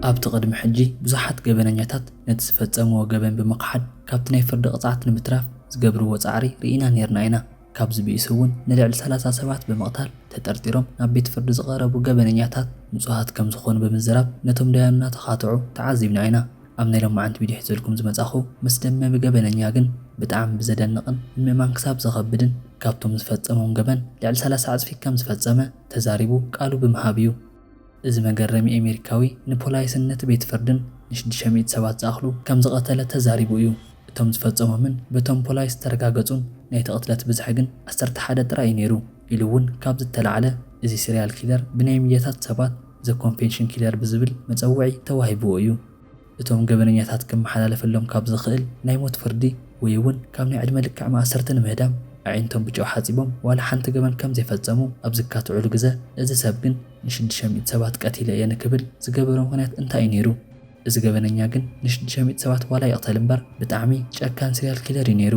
ኣብቲ ቅድሚ ሕጂ ብዙሓት ገበነኛታት ነቲ ዝፈጸምዎ ገበን ብምኽሓድ ካብቲ ናይ ፍርዲ ቅጽዓት ንምትራፍ ዝገብርዎ ጻዕሪ ርኢና ኔርና ኢና። ካብዚ ብኢሱ እውን ንልዕሊ ሰላሳ ሰባት ብምቕታል ተጠርጢሮም ናብ ቤት ፍርዲ ዝቐረቡ ገበነኛታት ንጹሃት ከም ዝኾኑ ብምዝራብ ነቶም ዳያኑ እናተኻትዑ ተዓዚብና ኢና። ኣብ ናይ ሎማዕንቲ ቪድዮ ሒዘልኩም ዝመጻኹ መስደመሚ ገበነኛ ግን ብጣዕሚ ብዘደንቕን ንምእማን ክሳብ ዘኸብድን ካብቶም ዝፈጸሞም ገበን ልዕሊ ሰላሳ ዕጽፊ ከም ዝፈጸመ ተዛሪቡ ቃሉ ብምሃብ እዩ። እዚ መገረሚ ኤሜሪካዊ ንፖላይስነት ቤት ፍርድን ንሽድሽተ ሚእቲ ሰባት ዝኣኽሉ ከም ዝቐተለ ተዛሪቡ እዩ። እቶም ዝፈጸሞምን በቶም ፖላይስ ዝተረጋገጹን ናይቲ ቅትለት ብዝሒ ግን ዓሰርተ ሓደ ጥራይ እዩ ነይሩ ኢሉ እውን ካብ ዝተላዕለ እዚ ሲርያል ኪለር ብናይ ሚድያታት ሰባት ዘ ኮንፌንሽን ኪለር ብዝብል መጸውዒ ተዋሂብዎ እዩ። እቶም ገበነኛታት ክመሓላለፈሎም ካብ ዝኽእል ናይ ሞት ፍርዲ ወይ'ውን ካብ ናይ ዕድመ ልክዕ ማእሰርቲ ንምህዳም ኣዒንቶም ብጨው ሓጺቦም ዋላ ሓንቲ ገበን ከም ዘይፈጸሙ ኣብ ዝካትዑሉ ግዘ እዚ ሰብ ግን ንሽዱሽተ ሚእቲ ሰባት ቀቲለ እየ ንክብል ዝገበሮ ምኽንያት እንታይ እዩ ነይሩ? እዚ ገበነኛ ግን ንሽዱሽተ ሚእቲ ሰባት ዋላ ይቕተል እምበር ብጣዕሚ ጨካን ሲርያል ኪለር እዩ ነይሩ።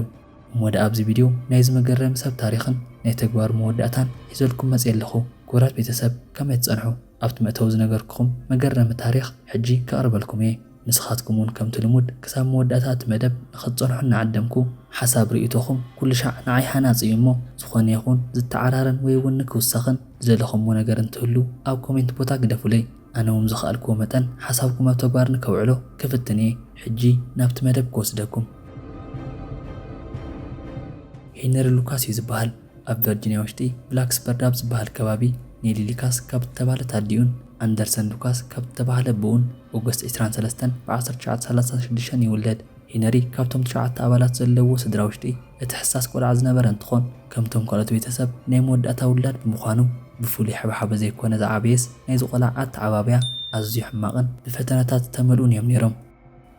እሞ ደኣ ኣብዚ ቪድዮ ናይዚ መገረሚ ሰብ ታሪኽን ናይ ተግባሩ መወዳእታን ሒዘልኩም መጽየ ኣለኹ። ክቡራት ቤተሰብ ከመይ ትጸንሑ? ኣብቲ መእተዊ ዝነገርኩኹም መገረሚ ታሪኽ ሕጂ ከቕርበልኩም እየ። ንስኻትኩም እውን ከምቲ ልሙድ ክሳብ መወዳእታ እቲ መደብ ንኸትጸንሑ እናዓደምኩ፣ ሓሳብ ርእይቶኹም ኩሉሻዕ ንዓይ ሃናጺ እዩ እሞ ዝኾነ ይኹን ዝተዓራረን ወይ እውን ንክውሰኽን ዝደለኹምዎ ነገር እንትህሉ ኣብ ኮሜንት ቦታ ግደፉለይ። ኣነ እውን ብዝኸኣልኩዎ መጠን ሓሳብኩም ኣብ ተግባር ንከውዕሎ ክፍትን እየ። ሕጂ ናብቲ መደብ ክወስደኩም። ሄነሪ ሉካስ እዩ ዝበሃል። ኣብ ቨርጂንያ ውሽጢ ብላክስበርድ ኣብ ዝበሃል ከባቢ ኔሊ ሊካስ ካብ እተባህለት ኣዲኡን ኣንደርሰን ሉካስ ካብ እተባህለ ኣቡኡን ኦገስት ዕስራን ሰለስተን ብ ዓሰርተ ትሽዓተ ሰላሳን ሽዱሽተን ይውለድ። ሄነሪ ካብቶም ትሽዓተ ኣባላት ዘለውዎ ስድራ ውሽጢ እቲ ሕሳስ ቆልዓ ዝነበረ እንትኾን ከምቶም ካልኦት ቤተሰብ ናይ መወዳእታ ውላድ ብምዃኑ ብፍሉይ ሓበሓበ ዘይኮነ ዝዓበየስ ናይዚ ቆልዓ ኣተዓባብያ ኣዝዩ ሕማቕን ብፈተነታት ዝተመልኡን እዮም ነይሮም።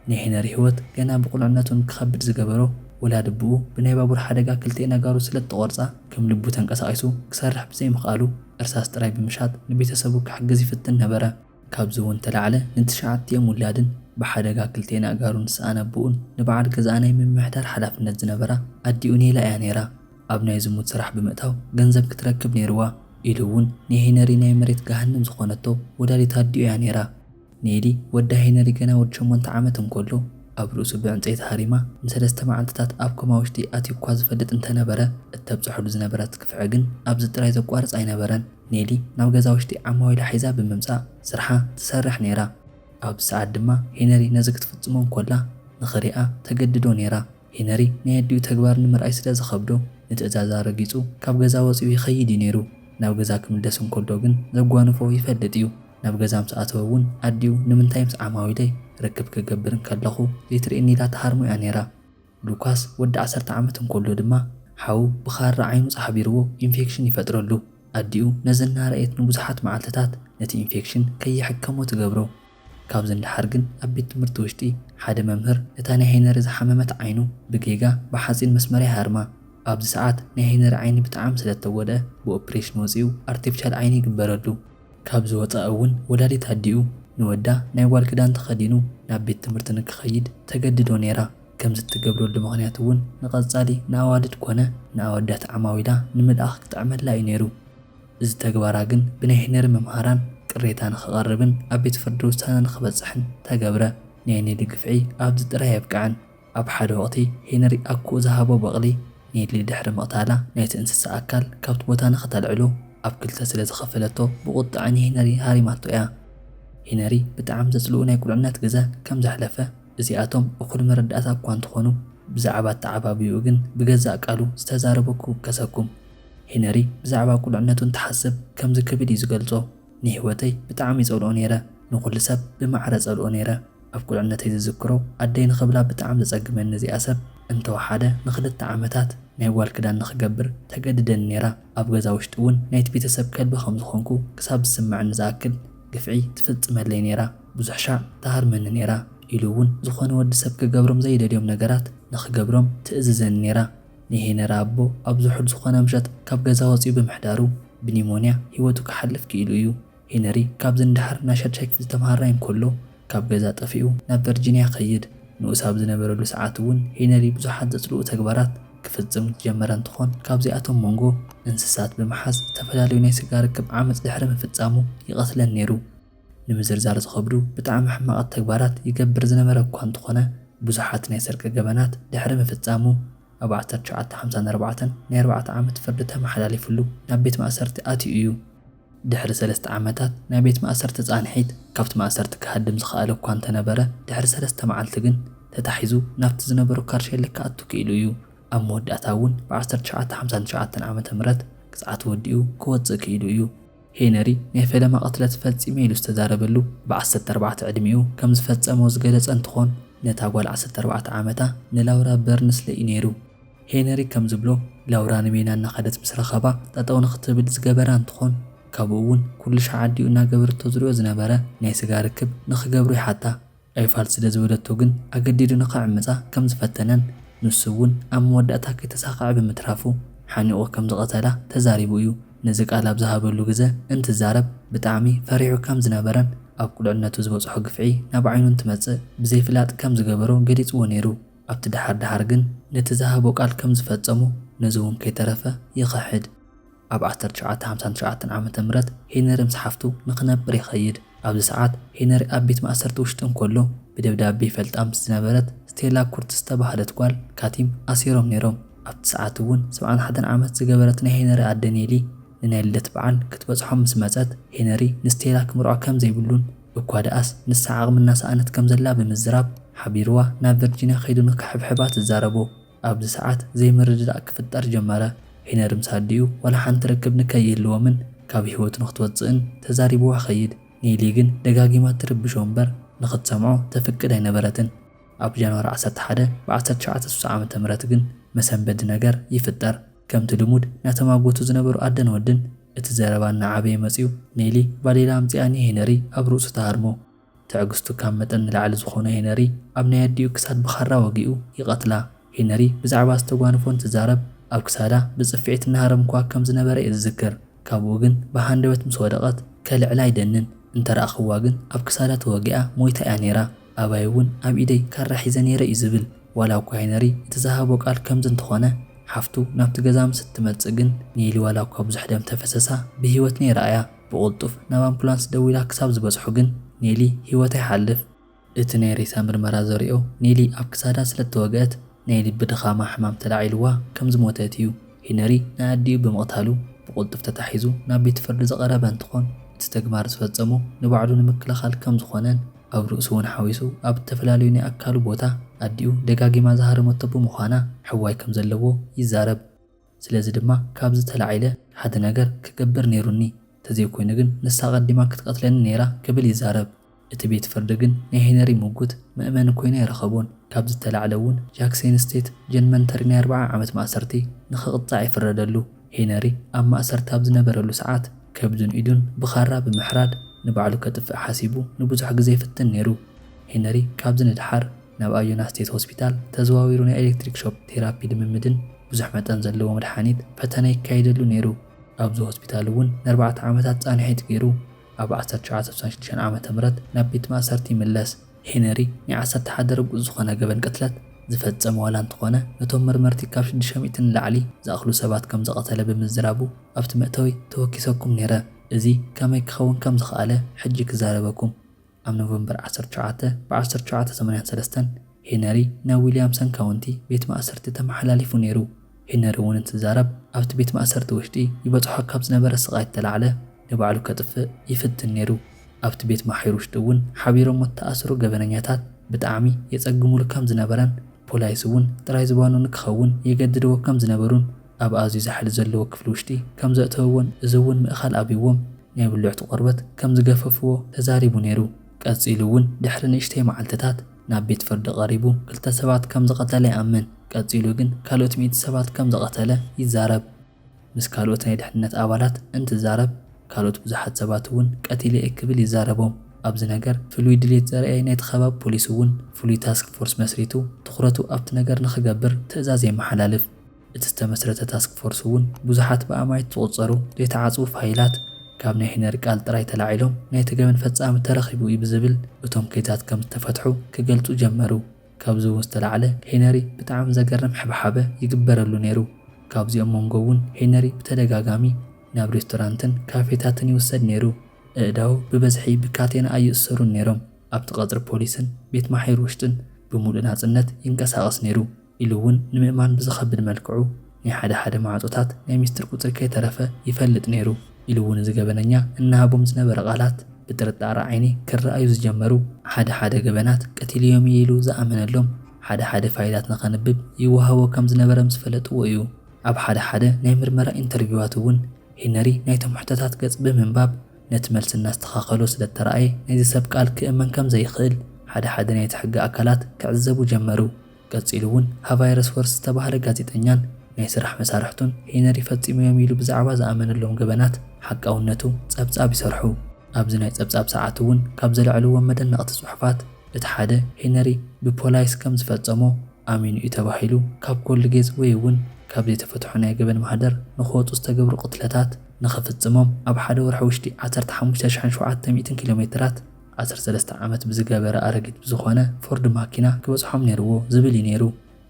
ናይ ሄነሪ ህይወት ገና ብቑልዕነቱ ንክኸብድ ዝገበሮ ወላድብኡ ብናይ ባቡር ሓደጋ ክልቲኤን ኣእጋሩ ስለእተቖርጻ ከም ልቡ ተንቀሳቒሱ ክሰርሕ ብዘይምኽኣሉ እርሳስ ጥራይ ብምሻጥ ንቤተሰቡ ክሕግዝ ይፍትን ነበረ። ካብዚ'ውን ተላዕለ ንትሽዓቲኦም ውላድን ብሓደጋ ክልቲኤን ኣእጋሩ ንሰኣን ኣቡኡን ንበዓል ገዛኣ ናይ ምምሕዳር ሓላፍነት ዝነበራ ኣዲኡ ኔላ እያ ነይራ ኣብ ናይ ዝሙት ስራሕ ብምእታው ገንዘብ ክትረክብ ነይርዋ ኢሉ'ውን ንሄነሪ ናይ መሬት ገሃንም ዝኾነቶ ወላዲት ኣዲኡ እያ ነይራ። ኔሊ፣ ወዳ ሄነሪ ገና ወዲ ሸሞንተ ዓመት እንከሎ ኣብ ርእሱ ብዕንጸይቲ ሃሪማ ንሰለስተ መዓልትታት ኣብ ኮማ ውሽጢ ኣትዩ'ኳ ዝፈልጥ እንተነበረ፣ እተብጸሐሉ ዝነበረት ግፍዒ ግን ኣብዚ ጥራይ ዘቋርጽ ኣይነበረን። ኔሊ ናብ ገዛ ውሽጢ ዓማዊላ ሒዛ ብምምጻእ ስርሓ ትሰርሕ ነይራ። ኣብዚ ሰዓት ድማ ሄነሪ ነዚ ክትፍጽሞ እንከላ ንኽሪኣ ተገድዶ ነይራ። ሄነሪ ናይ ኣዲኡ ተግባር ንምርኣይ ስለ ዝኸብዶ ንትእዛዛ ረጊጹ ካብ ገዛ ወጺኡ ይኸይድ እዩ ነይሩ። ናብ ገዛ ክምለስ እንከሎ ግን ዘጓንፎ ይፈልጥ እዩ። ናብ ገዛ ምስ ኣተወ እውን ኣዲኡ ንምንታይ ምስ ዓማዊለይ ርክብ ክገብር እንከለኹ ዘይትርእየኒ ኢላ ትሃርሞ እያ ነይራ። ሉካስ ወዲ ዓሰርተ ዓመት እንከሎ ድማ ሓው ብኻራ ዓይኑ ጻሕቢርዎ ኢንፌክሽን ይፈጥረሉ። ኣዲኡ ነዚ እናረኣየት ንብዙሓት መዓልትታት ነቲ ኢንፌክሽን ከይሕከሞ ትገብሮ። ካብዚ ንደሓር ግን ኣብ ቤት ትምህርቲ ውሽጢ ሓደ መምህር እታ ናይ ሄነሪ ዝሓመመት ዓይኑ ብጌጋ ብሓፂን መስመርያ ይሃርማ። ኣብዚ ሰዓት ናይ ሄነሪ ዓይኒ ብጣዕሚ ስለ እተጎድኣ ብኦፕሬሽን ወፂኡ ኣርቲፍሻል ዓይኒ ይግበረሉ። ካብዚ ወፃኢ እውን ወላዲት ኣዲኡ ንወዳ ናይ ጓል ክዳን ተኸዲኑ ናብ ቤት ትምህርቲ ንክኸይድ ተገድዶ ነይራ። ከምዚ እትገብረሉ ምኽንያት እውን ንቐፃሊ ንኣዋልድ ኮነ ንኣወዳት ዓማዊላ ንምልኣኽ ክጥዕመላ እዩ ነይሩ። እዚ ተግባራ ግን ብናይ ሄነሪ መምሃራን ቅሬታ ንክቐርብን ኣብ ቤት ፍርዲ ውሳነ ንክበፅሕን ተገብረ። ናይ ኔሊ ግፍዒ ኣብዚ ጥራይ ኣየብቅዐን። ኣብ ሓደ ወቕቲ ሄነሪ ኣኮኡ ዝሃቦ በቕሊ ኔሊ ድሕሪ ምቕታላ ናይቲ እንስሳ ኣካል ካብቲ ቦታ ንክተልዕሉ ኣብ ክልተ ስለ ዝኸፈለቶ ብቑጥዐ ንሄነሪ ሃሪማቶ እያ። ሄነሪ ብጣዕሚ ዘፅልኡ ናይ ቁልዕነት ግዘ ከም ዘሕለፈ እዚኣቶም እኹል መረዳእታ እኳ እንተኾኑ ብዛዕባ ኣተዓባብይኡ ግን ብገዛእ ቃሉ ዝተዛረቦ ክውከሰኩም። ሄነሪ ብዛዕባ ቍልዕነቱ እንትሓስብ ከምዚ ክብል እዩ ዝገልጾ፣ ንህይወተይ ብጣዕሚ እጸልኦ ነይረ። ንዅሉ ሰብ ብማዕረ እጸልኦ ነይረ። ኣብ ቍልዕነተይ ዝዝክሮ፣ ኣደይ ንኽብላ ብጣዕሚ ዘጸግመኒ እዚኣ ሰብ እንተ ወሓደ ንኽልተ ዓመታት ናይ ጓል ክዳን ንኽገብር ተገድደኒ ነይራ። ኣብ ገዛ ውሽጢ እውን ናይቲ ቤተሰብ ከልቢ ከም ዝዀንኩ ክሳብ ዝስምዓኒ ዝኣክል ግፍዒ ትፍጽመለይ ነይራ። ብዙሕ ሻዕ ትሃርመኒ ነይራ። ኢሉ እውን ዝዀነ ወዲ ሰብ ክገብሮም ዘይደልዮም ነገራት ንኽገብሮም ትእዝዘኒ ነይራ። ንሄነሪ ኣቦ ኣብ ዝሑል ዝኾነ ምሸት ካብ ገዛ ወጺኡ ብምሕዳሩ ብኒሞንያ ህይወቱ ክሓልፍ ክኢሉ እዩ። ሄነሪ ካብዚ ንደሓር ናይ ሻድሻይ ክፍሊ ተመሃራይ እንከሎ ካብ ገዛ ጠፊኡ ናብ ቨርጂንያ ይኸይድ። ንኡስ ኣብ ዝነበረሉ ሰዓት እውን ሄነሪ ብዙሓት ዘጽልኡ ተግባራት ክፍጽም ዝጀመረ እንትኾን ካብዚኣቶም ሞንጎ እንስሳት ብምሓዝ ዝተፈላለዩ ናይ ስጋ ርክብ ዓመጽ ድሕሪ ምፍጻሙ ይቐትለን ነይሩ። ንምዝርዛር ዝኸብዱ ብጣዕሚ ሕማቓት ተግባራት ይገብር ዝነበረ እኳ እንተኾነ ብዙሓት ናይ ስርቂ ገበናት ድሕሪ ምፍጻሙ ኣብ ዓሰርተ ትሽዓተ ሓምሳን ኣርባዕተን ናይ ኣርባዕተ ዓመት ፍርዲ ተመሓላሊፍሉ ናብ ቤት ማእሰርቲ ኣትዩ እዩ። ድሕሪ ሰለስተ ዓመታት ናይ ቤት ማእሰርቲ ጻንሒት ካብቲ ማእሰርቲ ክሃድም ዝኸኣለ እኳ እንተነበረ ድሕሪ ሰለስተ መዓልቲ ግን ተታሒዙ ናብቲ ዝነበሮ ካርሸሊ ክኣቱ ክኢሉ እዩ። ኣብ መወዳእታ እውን ብ ዓሰርተ ትሽዓተ ሓምሳን ትሽዓተን ዓመተ ምህረት ቅጽዓቱ ወዲኡ ክወጽእ ክኢሉ እዩ። ሄነሪ ናይ ፈለማ ቅትለት ፈጺመ ኢሉ ዝተዛረበሉ ብ ዓሰርተ ኣርባዕተ ዕድሚኡ ከም ዝፈጸሞ ዝገለጸ እንትኾን ነታ ጓል ዓሰርተ ኣርባዕተ ዓመታ ንላውራ በርንስለይ እዩ ነይሩ። ሄነሪ ከም ዝብሎ ላውራ ንሜና እናኸደት ምስ ረኸባ ጠጠው ንኽትብል ዝገበራ እንትኾን ካብኡ እውን ኩሉሻዕ ኣዲኡ እናገበረቶ ዝሪኦ ዝነበረ ናይ ስጋ ርክብ ንኽገብሩ ይሓታ። ኣይፋል ስለ ዝበለቶ ግን ኣገዲዱ ንኽዕምጻ ከም ዝፈተነን ንሱ እውን ኣብ መወዳእታ ከይተሳኽዐ ብምትራፉ ሓኒቑ ከም ዝቐተላ ተዛሪቡ እዩ። ነዚ ቃል ኣብ ዝሃበሉ ግዘ እንትዛረብ ብጣዕሚ ፈሪሑ ከም ዝነበረን ኣብ ቁልዕነቱ ዝበፅሖ ግፍዒ ናብ ዓይኑ እንትመፅእ ብዘይፍላጥ ከም ዝገበሮ ገሊፅዎ ነይሩ። ኣብቲ ደሓር ደሓር ግን ነቲ ዝሃቦ ቃል ከም ዝፈፀሞ ነዚ እውን ከይተረፈ ይኽሕድ። ኣብ ዓሰርተ ትሽዓተ ሃምሳን ትሽዓተን ዓመተ ምህረት ሄነሪ ምስ ሓፍቱ ንኽነብር ይኸይድ። ኣብዚ ሰዓት ሄነሪ ኣብ ቤት ማእሰርቲ ውሽጢ እንከሎ ብደብዳቤ ይፈልጣ ምስ ዝነበረት ስቴላ ኩርትዝ ዝተባህለት ጓል ካቲም ኣሲሮም ነይሮም። ኣብቲ ሰዓት እውን ሰብዓን ሓደን ዓመት ዝገበረት ናይ ሄነሪ ኣደ ኔሊ ንናይ ልደት በዓል ክትበጽሖም ምስ መጸት ሄነሪ ንስቴላ ክምርዖ ከም ዘይብሉን እኳ ደኣስ ንሳ ዓቕሚ እናሰኣነት ከም ዘላ ብምዝራብ ሓቢሩዋ ናብ ቨርጂንያ ከይዱ ንክሕብሕባ ትዛረቦ። ኣብዚ ሰዓት ዘይምርድዳእ ክፍጠር ጀመረ። ሂነር ምስ ኣዲኡ ዋላ ሓንቲ ርክብ ንከይህልዎምን ካብ ህይወቱ ንክትወጽእን ተዛሪብዋ ኸይድ። ኔሊ ግን ደጋጊማ ትርብሾ እምበር ንክትሰምዖ ተፍቅድ ኣይነበረትን። ኣብ ጃንዋሪ ዓሰርተ ሓደ ብ ዓሰርተ ትሽዓተ ስሳ ዓመተ ምህረት ግን መሰንበዲ ነገር ይፍጠር። ከምቲ ልሙድ ናተማጎቱ ዝነበሩ ኣደን ወድን እቲ ዘረባ እናዓበየ መጽዩ ኔሊ ባዴላ ኣምጺኣ ንሄነሪ ኣብ ርእሱ ትሃርሞ። ትዕግስቱ ካብ መጠን ንላዕሊ ዝኾኖ ሄነሪ ኣብ ናይ ኣዲኡ ክሳድ ብኻራ ወጊኡ ይቐትላ። ሄነሪ ብዛዕባ ዝተጓንፎ እንትዛረብ ኣብ ክሳዳ ብጽፍዒት እናሃረምኩዋ ከም ዝነበረ'ዩ ዝዝክር። ካብኡ ግን ብሃንደበት ምስ ወደቐት ከልዕላ ይደንን። እንተ ረኣኹዋ ግን ኣብ ክሳዳ ተወጊኣ ሞይታ'ያ ነይራ። ኣባይ'ውን ኣብ ኢደይ ካራ ሒዘ ነይረ'ዩ ዝብል። ዋላ'ኳ ሄነሪ እቲ ዝሃቦ ቃል ከምዚ እንተኾነ ሓፍቱ ናብቲ ገዛ ምስ እትመጽእ ግን ኔሊ ዋላ'ኳ ብዙሕ ደም ተፈሰሳ ብህይወት ነይራ'ያ። ብቕልጡፍ ናብ ኣምፑላንስ ደዊላ ክሳብ ዝበጽሑ ግን ኔሊ ህይወታ ይሓልፍ። እቲ ናይ ሬሳ ምርመራ ዘርእዮ ኔሊ ኣብ ክሳዳ ስለ እተወግአት ናይ ልቢ ድኻማ ሕማም ተላዒልዋ ከም ዝሞተት እዩ። ሂነሪ ንኣዲኡ ብምቕታሉ ብቕልጡፍ ተታሒዙ ናብ ቤት ፍርዲ ዝቐረበ እንትኾን እቲ ተግባር ዝፈጸሞ ንባዕሉ ንምክልኻል ከም ዝኾነን ኣብ ርእሱ እውን ሓዊሱ ኣብ እተፈላለዩ ናይ ኣካሉ ቦታ ኣዲኡ ደጋጊማ ዝሃረመቶ ብምዃና ሕዋይ ከም ዘለዎ ይዛረብ። ስለዚ ድማ ካብዚ ተላዒለ ሓደ ነገር ክገብር ነይሩኒ፣ ተዘይኮይኑ ግን ንሳ ኣቐዲማ ክትቐትለኒ ነይራ ክብል ይዛረብ። እቲ ቤት ፍርዲ ግን ናይ ሄነሪ ምጉት መእመኒ ኮይኑ ኣይረኸቦን። ካብዚ እተላዕለ እውን ጃክ ሴንስቴት ጀንመንተሪ ናይ ኣርብዓ ዓመት ማእሰርቲ ንኽቕፃዕ ይፍረደሉ። ሄነሪ ኣብ ማእሰርቲ ኣብ ዝነበረሉ ሰዓት ከብዱን ኢዱን ብኻራ ብምሕራድ ንባዕሉ ከጥፍእ ሓሲቡ ንብዙሕ ግዘ ይፍትን ነይሩ። ሄነሪ ካብዚ ንደሓር። ናብ ኣዩና ስቴት ሆስፒታል ተዘዋዊሩ ናይ ኤሌክትሪክ ሾክ ቴራፒ ልምምድን ብዙሕ መጠን ዘለዎ መድሓኒት ፈተነ ይካየደሉ ነይሩ። ኣብዚ ሆስፒታል እውን ንኣርባዕተ ዓመታት ፃንሒት ገይሩ ኣብ ዓሰርተ ትሽዓተ ስሳን ሽዱሽተን ዓመተ ምህረት ናብ ቤት ማእሰርቲ ይምለስ። ሄነሪ ናይ ዓሰርተ ሓደ ርጉፅ ዝኾነ ገበን ቅትለት ዝፈፀመ ዋላ እንተኾነ ነቶም መርመርቲ ካብ ሽዱሽተ ሚእቲ ንላዕሊ ዝኣኽሉ ሰባት ከም ዝቐተለ ብምዝራቡ ኣብቲ መእተዊ ተወኪሰኩም ነይረ። እዚ ከመይ ክኸውን ከም ዝኸኣለ ሕጂ ክዛረበኩም። ኣብ ኖቨምበር ዓሰርተ ሸውዓተ ብ ዓሰርተ ሸውዓተ ሰማንያን ሰለስተን ሄነሪ ናብ ዊልያምሰን ካውንቲ ቤት ማእሰርቲ ተመሓላሊፉ ነይሩ። ሄነሪ እውን እንትዛረብ ኣብቲ ቤት ማእሰርቲ ውሽጢ ይበፅሖ ካብ ዝነበረ ስቓይ እተላዕለ ንባዕሉ ከጥፍእ ይፍትን ነይሩ። ኣብቲ ቤት ማሕዩር ውሽጢ እውን ሓቢሮሞ እተኣሰሩ ገበነኛታት ብጣዕሚ የፀግሙሉ ከም ዝነበረን ፖላይስ እውን ጥራይ ዝባኑ ንክኸውን የገድድዎ ከም ዝነበሩን ኣብ ኣዝዩ ዛሕሊ ዘለዎ ክፍሊ ውሽጢ ከም ዘእተውዎን እዚ እውን ምእኻል ኣብይዎም ናይ ብልዕቱ ቆርበት ከም ዝገፈፍዎ ተዛሪቡ ነይሩ። ቀጺሉ እውን ድሕሪ ንእሽተይ መዓልትታት ናብ ቤት ፍርዲ ቀሪቡ ክልተ ሰባት ከም ዝቐተለ ይኣምን። ቀጺሉ ግን ካልኦት ሚእቲ ሰባት ከም ዝቐተለ ይዛረብ። ምስ ካልኦት ናይ ድሕንነት ኣባላት እንትዛረብ ካልኦት ብዙሓት ሰባት እውን ቀቲለ እየ ክብል ይዛረቦም። ኣብዚ ነገር ፍሉይ ድሌት ዘርእይ ናይቲ ከባቢ ፖሊስ እውን ፍሉይ ታስክ ፎርስ መስሪቱ ትኹረቱ ኣብቲ ነገር ንኽገብር ትእዛዝ የመሓላልፍ። እቲ ዝተመስረተ ታስክ ፎርስ እውን ብዙሓት ብኣማኢት ዝቑፀሩ ዘይተዓፅዉ ፋይላት ካብ ናይ ሂነሪ ቃል ጥራይ ተላዒሎም ናይቲ ገበን ፈፃሚ ተረኺቡ እዩ ብዝብል እቶም ኬዛት ከም ዝተፈትሑ ክገልፁ ጀመሩ። ካብዚ እውን ዝተላዕለ ሂነሪ ብጣዕሚ ዘገርም ሕብሓበ ይግበረሉ ነይሩ። ካብዚኦም መንጎ እውን ሂነሪ ብተደጋጋሚ ናብ ሬስቶራንትን ካፌታትን ይውሰድ ነይሩ። ኣእዳዉ ብበዝሒ ብካቴና ኣይእሰሩን ነይሮም። ኣብቲ ቀፅሪ ፖሊስን ቤት ማሕዩር ውሽጥን ብምሉእ ናፅነት ይንቀሳቐስ ነይሩ። ኢሉ እውን ንምእማን ብዝኸብድ መልክዑ ናይ ሓደ ሓደ ማዕፆታት ናይ ሚስጥር ቁፅሪ ከይተረፈ ይፈልጥ ነይሩ ኢሉ እውን እዚ ገበነኛ እናሃቦም ዝነበረ ቃላት ብጥርጣረ ዓይኒ ክረኣዩ ዝጀመሩ ሓደ ሓደ ገበናት ቀቲለዮም እየ ኢሉ ዝኣመነሎም ሓደ ሓደ ፋይላት ንኸንብብ ይወሃቦ ከም ዝነበረ ምስ ፈለጥዎ እዩ። ኣብ ሓደ ሓደ ናይ ምርመራ ኢንተርቪዋት እውን ሄነሪ ናይቶም ሕቶታት ገፅ ብምንባብ ነቲ መልሲ እናስተኻኸሎ ስለ እተረኣየ ናይዚ ሰብ ቃል ክእመን ከም ዘይኽእል ሓደ ሓደ ናይቲ ሕጊ ኣካላት ክዕዘቡ ጀመሩ። ቀጺሉ እውን ሃቫይረስ ወርስ ዝተባህለ ጋዜጠኛን ናይ ስራሕ መሳርሕቱን ሄነሪ ፈጺሞዮም ኢሉ ብዛዕባ ዝኣመነሎም ገበናት ሓቃውነቱ ጸብጻብ ይሰርሑ። ኣብዚ ናይ ጸብጻብ ሰዓቱ እውን ካብ ዘልዐልዎም መደነቕቲ ጽሑፋት እቲ ሓደ ሄነሪ ብፖላይስ ከም ዝፈጸሞ ኣሚኑ እዩ ተባሂሉ ካብ ኮልጌዝ ወይ እውን ካብ ዘይተፈትሑ ናይ ገበን ማህደር ንክወጹ ዝተገብሩ ቅትለታት ንክፍጽሞም ኣብ ሓደ ወርሒ ውሽጢ ዓሰርተ ሓሙሽተ ሽሕን ሸውዓተ ሚእትን ኪሎሜትራት ዓሰርተ ሰለስተ ዓመት ብዝገበረ ኣረጊት ብዝኾነ ፎርድ ማኪና ክበጽሖም ነይርዎ ዝብል እዩ ነይሩ።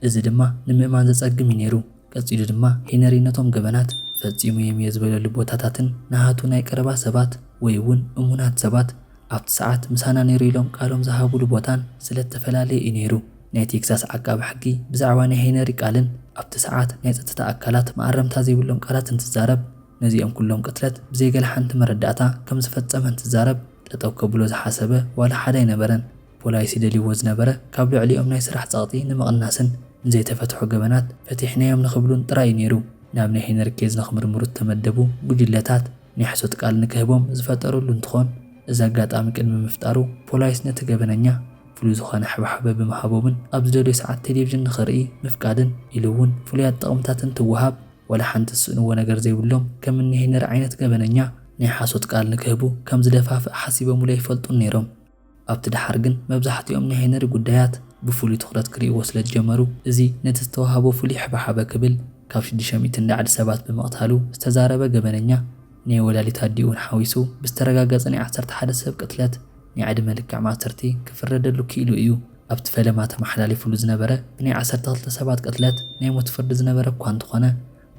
እዚ ድማ ንምእማን ዘጸግም እዩ ነይሩ። ቀጺሉ ድማ ሄነሪ ነቶም ገበናት ፈጺሙዬም እየ ዝበለሉ ቦታታትን ንሃቱ ናይ ቀረባ ሰባት ወይ እውን እሙናት ሰባት ኣብቲ ሰዓት ምሳና ነይሩ ኢሎም ቃሎም ዝሃቡሉ ቦታን ስለ እተፈላለየ እዩ ነይሩ። ናይ ቴክሳስ ዓቃቢ ሕጊ ብዛዕባ ናይ ሄነሪ ቃልን ኣብቲ ሰዓት ናይ ጸጥታ ኣካላት መኣረምታ ዘይብሎም ቃላት እንትዛረብ ነዚኦም ኩሎም ቅትለት ብዘይ ገለ ሓንቲ መረዳእታ ከም ዝፈጸመ እንትዛረብ ጠጠው ከብሎ ዝሓሰበ ዋላ ሓደ ኣይነበረን። ፖላይሲ ደልዩዎ ዝነበረ ካብ ልዕሊኦም ናይ ስራሕ ጸቕጢ ንምቕናስን ንዘይተፈትሑ ገበናት ፈቲሕናዮም ንኽብሉን ጥራይ እዩ ነይሩ። ናብ ናይ ሄነሪ ኬዝ ንኽምርምሩ እተመደቡ ጉጅለታት ናይ ሕሶት ቃል ንክህቦም ዝፈጠርሉ እንትኾን እዚ ኣጋጣሚ ቅድሚ ምፍጣሩ ፖላይስ ነቲ ገበነኛ ፍሉይ ዝኾነ ሕብሓበ ብምሃቦምን ኣብ ዝደልዮ ሰዓት ቴሌቭዥን ንኽርኢ ምፍቃድን ኢሉ እውን ፍሉያት ጥቕምታት እንትወሃብ ወላ ሓንቲ ዝስእንዎ ነገር ዘይብሎም ከም እኒ ሄነሪ ዓይነት ገበነኛ ናይ ሓሶት ቃል ንክህቡ ከም ዝደፋፍእ ሓሲበሙሉ ኣይፈልጡን ነይሮም። ኣብቲ ደሓር ግን መብዛሕትኦም ናይ ሄነሪ ጉዳያት ብፍሉይ ትኹረት ክርእይዎ ስለ ዝጀመሩ እዚ ነቲ ዝተዋህቦ ፍሉይ ሕብሓበ ክብል ካብ ሽዱሽተ ሚእቲ ንላዕሊ ሰባት ብምቕታሉ ዝተዛረበ ገበነኛ ናይ ወላዲት ኣዲኡ'ውን ሓዊሱ ብዝተረጋገጸ ናይ ዓሰርተ ሓደ ሰብ ቅትለት ናይ ዕድመ ልክዕ ማእሰርቲ ክፍረደሉ ክኢሉ እዩ። ኣብቲ ፈለማ ተመሓላሊፉሉ ዝነበረ ብናይ ዓሰርተ ክልተ ሰባት ቅትለት ናይ ሞት ፍርዲ ዝነበረ እኳ እንተኾነ፣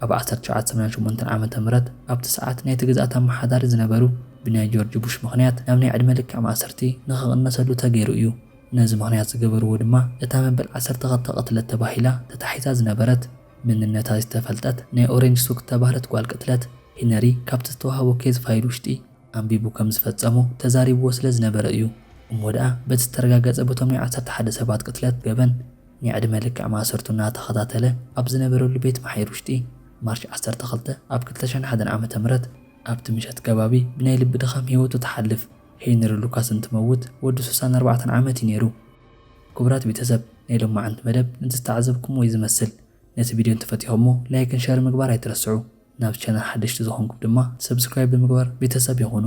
ኣብ ዓሰርተ ትሽዓተ ሰማንያን ሸሞንተን ዓመተ ምህረት ኣብቲ ሰዓት ናይቲ ግዝኣት ኣመሓዳሪ ዝነበሩ ብናይ ጆርጅ ቡሽ ምኽንያት ናብ ናይ ዕድመ ልክዕ ማእሰርቲ ንኽቕነሰሉ ተገይሩ እዩ። ነዚ ምኽንያት ዝገበርዎ ድማ እታ መበል ዓሰርተ ክልተ ቅትለት ተባሂላ ተታሒዛ ዝነበረት መንነታ ዝተፈልጠት ናይ ኦሬንጅ ሱክ እተባህለት ጓል ቅትለት ሄነሪ ካብቲ ዝተዋህቦ ኬዝ ፋይል ውሽጢ ኣንቢቡ ከም ዝፈጸሞ ተዛሪብዎ ስለ ዝነበረ እዩ። እሞ ደኣ በቲ ዝተረጋገጸ በቶም ናይ ዓሰርተ ሓደ ሰባት ቅትለት ገበን ናይ ዕድመ ልክዕ ማእሰርቱ እናተኸታተለ ኣብ ዝነበረሉ ቤት ማሕዩር ውሽጢ ማርች ዓሰርተ ክልተ ኣብ ክልተ ሽሕን ሓደን ዓመተ ምህረት ኣብቲ ምሸት ከባቢ ብናይ ልቢ ድኻም ህይወቱ ትሓልፍ። ሄይንሪ ሉካስ እንትመውት ወዱ ስሳን ኣርባዕተን ዓመት እዩ ነይሩ። ክቡራት ቤተሰብ ናይ ሎማዓንቲ መደብ ንዝተዓዘብኩምዎ እዩ ዝመስል ነቲ ቪድዮ እንተፈቲኹሞ ላይክን ሸርን ምግባር ኣይትረስዑ። ናብ ቻነል ሓደሽቲ ዝኾንኩም ድማ ሰብስክራይብ ብምግባር ቤተሰብ ይኹኑ።